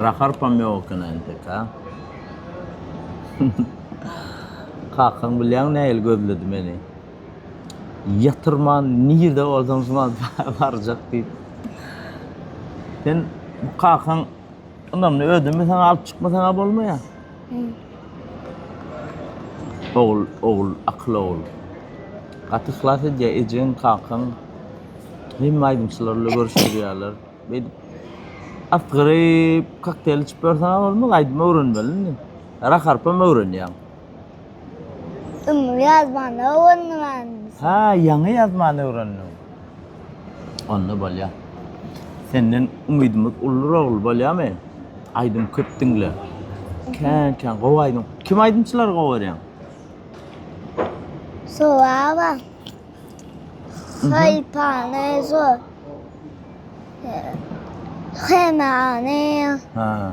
Raharpam ýok ekeni entek ha. Kakaň bilýäň nähili gözledi meni. Ýatyrman nirde bolsaň şumal barjak diýip. Sen bu kakaň ynamly ödünmi saňa alyp çykmasaňa bolmaýa. Ogul ogul akyl ogul. Gaty yhlas edýä ejeň kakaň hemme aýdymçylar ile görüşdirýäler beýdip asgyryp kokteýl içip ýörseňä bolmaz aýdym öwrenmeli indi rap arpam öwrenýäň. Indi ýazmany öwrendim indi. Hä ýaňy ýazmany öwrendiň. Onda bolýa. Senden umydymyz uldur ogul bolýamy? Aýdym köp diňle. Kän kän gowy aýdym. Kim aýdymçylary gowy görýäň? Sowaba. Haypane zor. Hemane. Ha.